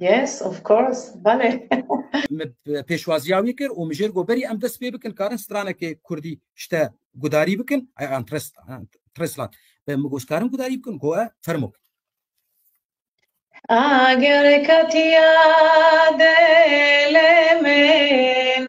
Yes, of course, bale. Min pêşwaziya wî kir û min jêr got berî em dest pê bikin karin stranekê kurdî ji te gudarî bikin I am Trislan. Min got ji karin gudarî bikin got e fermo. Ager katiya dele min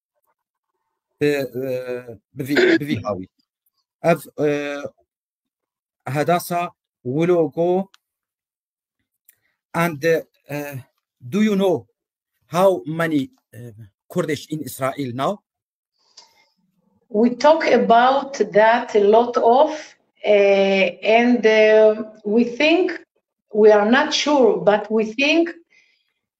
bi bi vî bi vî hawî ev e, hedasa wlogo and e, do you know how many e, Kurdish in Israel now? We talk about that a lot of, uh, and uh, we think we are not sure, but we think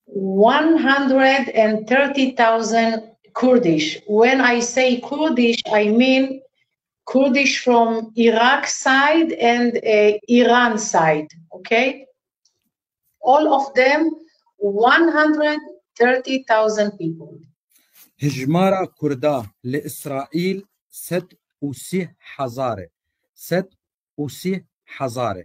One hundred and thirty thousand Kurdish, when I say Kurdish I mean Kurdish from Iraq side and Iran side, okay? All of them one hundred thirty thousand people. Hijmara Kurda li Îsraîl sed û sî hezar e. Sed û sî hezar e.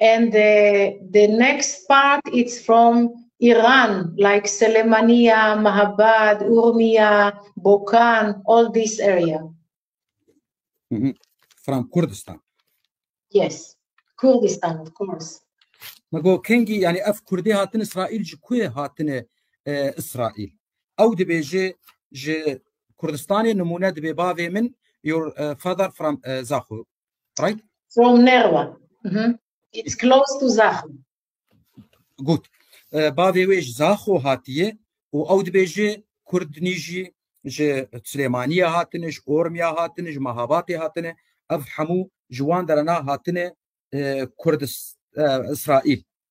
And the, the next part it's from Iran, like Selemania, Mahabad, Urmia, Bokan, all this area. Mm -hmm. From Kurdistan. Yes, Kurdistan, of course. Mago kengi yani ev Kurdi hatin İsrail ji kuye hatine e, İsrail. Ew dibêje ji Kurdistanê nimune dibe bavê min your uh, father from uh, Zaxu Right? From Nerva. Mm -hmm. It's close to Zaxo. Good. Uh, bavê wê ji Zaxo hatiye û ew dibêje Kurd nîjî ji Silêmaniye hatine, ji Ormiya hatine, ji Mehabatê hatine. Ev hemû ji wan derena hatine uh, Kurdis uh, İsrail.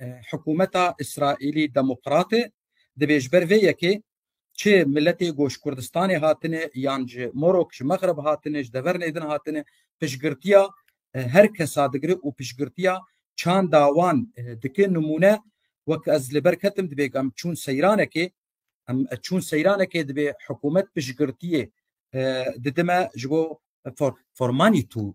Hikûmeta Îsraîlî Demokrat e, dibê ji ber vê yekê çi miletê ku ji Kurdistanê hatine yan ji Morok, ji Mexreb hatine, ji devernê din hatine, piştgirtiya her kesa digire û piştgirtiya çanda wan dike. Nimûne wek ez li ber ketim dibê em çûn seyranekê em çûn seyranekê dibê hikûmet piştgirtiyê didime ji bo formanî tû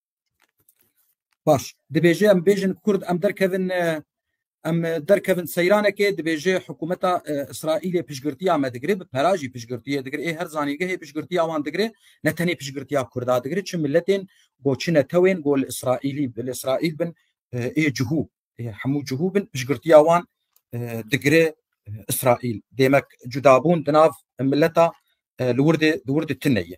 Baş, dibêje em bêjin Kurd em derkevin em derkevin seyranekê dibêje hikûmeta Îsraîlê piştgirtiya me digire bi pera jî piştgirtiyê digire ê her zanîngehê piştgirtiya wan digire ne tenê piştgirtiya Kurda digire çi miletên got çi netewên got li Îsraîlî bi li Îsraîl bin ê cihû ê hemû cihû bin piştgirtiya wan digire Îsraîl demek cudabûn di nav mileta li wir de di wir de tune ye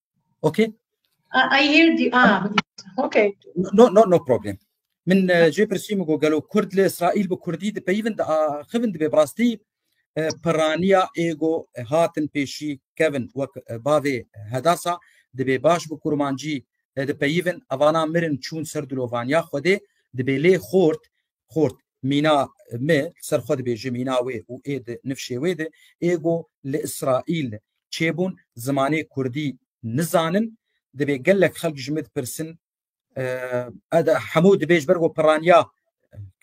Okay? I, I hear the ah okay. No no no problem. Min cê pirsî min got gelo Kurd li Îsraîl bi Kurdî dipeyivin di axivin dibê bi rastî piraniya êgo hatin pêşî kevin wek bavê hedasa dibê baş bi kurmancî dipeyivin evana mirin çûn ser dilovaniya xwedê dibê lê xort xort mîna me li ser xwe dibêje mîna wê û ê di nifşê wê de ê got li Îsraîl çêbûn zimanê kurdî nizanin dibê gelek xelk ji min dipirsin hemû dibê ji ber ku piraniya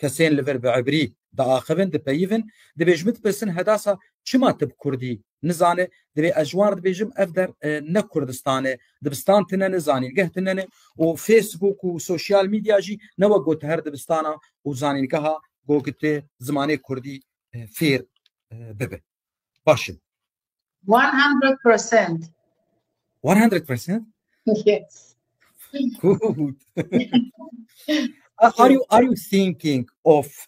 kesên li vir bi ebrî diaxivin dipeyivin dibê ji min dipirsin hedasa çima tu bi kurdî Nizane, divê ez ji wan re dibêjim ev der ne Kurdistan e. Dibistan tune ne, zanîngeh tune ne û Facebook û sosyal medya jî ne wek got her dibistana û zanîngeha got tu zimanê Kurdî fêr bibe. Baş e. 100%. 100%? Yes. Good. are you are you thinking of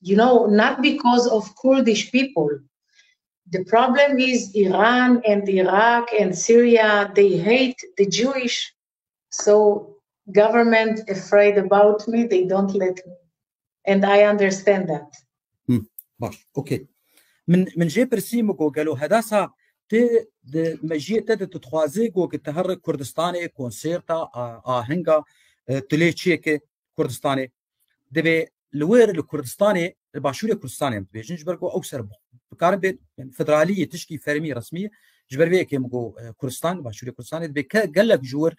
you know, not because of Kurdish people. The problem is Iran and Iraq and Syria, they hate the Jewish. So government afraid about me, they don't let me. And I understand that. Hmm. Baş, okay. Min min jê pirsî min ku gelo hedasa tê di mejiyê te de tu dixwazê ku ki te her Kurdistanê konserta ahenga tu lê çiyê ki Kurdistanê divê li wir li Kurdistanê li başûrê Kurdistanê em dibêjin ji ber ku ew ser bikarin bê federaliyê tişkî fermî resmî ji ber vê yekê min got e, Kurdistan başûrê Kurdistanê dibê ke gelek ji wir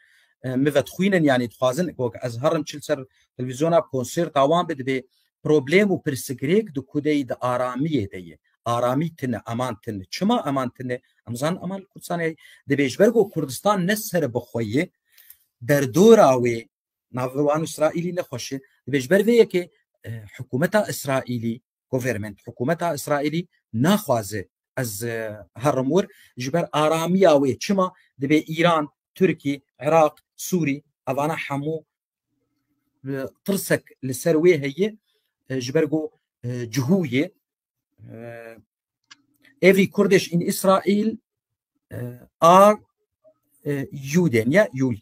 e, min vedixwînin yanî dixwazin ku ez herim çil ser televîzyona konserta wan bi dibê problem û pirsgirêk di kudeyî di aramiyê de ye aramî tine eman tine çima eman tine em zan eman Kurdistanê dibê ji ber ku Kurdistan ne ser bixwe ye derdora wê nav li wan Îsraîlî ne xweş e. Divê ji ber vê yekê hikûmeta Îsraîlî government hikûmeta Îsraîlî naxwaze ez herim wir ji ber aramiya wê çima divê Îran, Tirkî, Iraq, Sûrî evana hemû tirsek li ser wê heye ji ber ku cihûyê every Kurdish in Israel are Juden ya Juden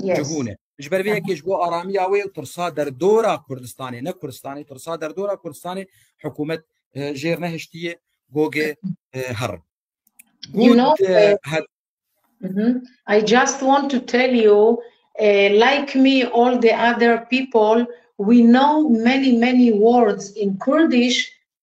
cihûn e. Ji ber vê yekê ji bo aramiya wê û tirsa derdora Kurdistanê ne Kurdistanê tirsa derdora Kurdistanê hikûmet jêr nehiştiye gogê her. You know, I just want to tell you, uh, like me, all the other people, we know many, many words in Kurdish,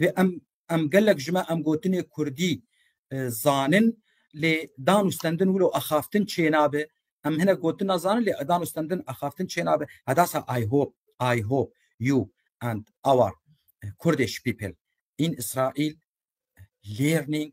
Vê em em gelek ji me em gotinê kurdî zanin lê dan û stendin wilo axaftin çênabe em hinek gotin nazanin lê dan û stendin axaftin çênabe hedasa I hope I hope you and our Kurdê şipîpil in Israel learning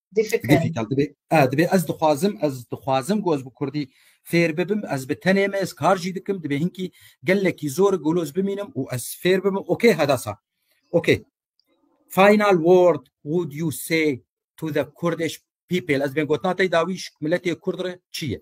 Di fikir. Gefikal dibe. A dibe ez dixwazim ez dixwazim ku ez bi Kurdî fêr bibim ez bi tenê me ez kar jî dikim dibe hinkî gelekî zor goloz bimînim û ez fêr bibim okê hedasa. Okê. Final word would you say to the Kurdish people ez bên gotina tey dawî milletê Kurd re çi ye?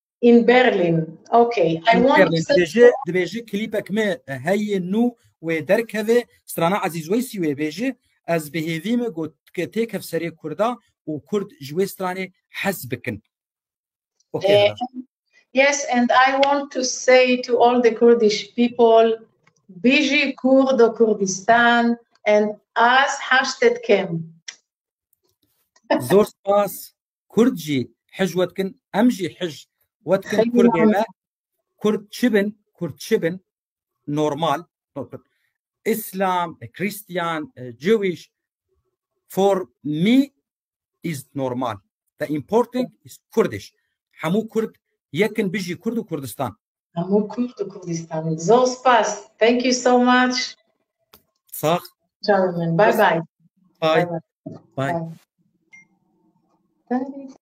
In Berlin. Okay. I In want Berlin. to Dibêje, dibêje klîpek me heyê nû wê derkeve strana Ezîz Weysî wê bêje ez bi hêvî me got ke têkev serê Kurda û Kurd ji wê stranê hez bikin. Okay. Eh, Hira. Yes, and I want to say to all the Kurdish people, Biji Kurdo Kurdistan and Az Hashtet Kem. Zor spas. Kurd jî hij we dikin, em jî hij we dikin Kurdê me. Kurd çi bin, Kurd çi bin normal. Islam, Christian, Jewish for me is normal. The important is Kurdish. Hemû Kurd yekin bijî Kurd û Kurdistan. Hemû Kurd û Kurdistan. Zor spas. Thank you so much. Sax. Çawa min. Bye bye. Bye. Bye. Bye.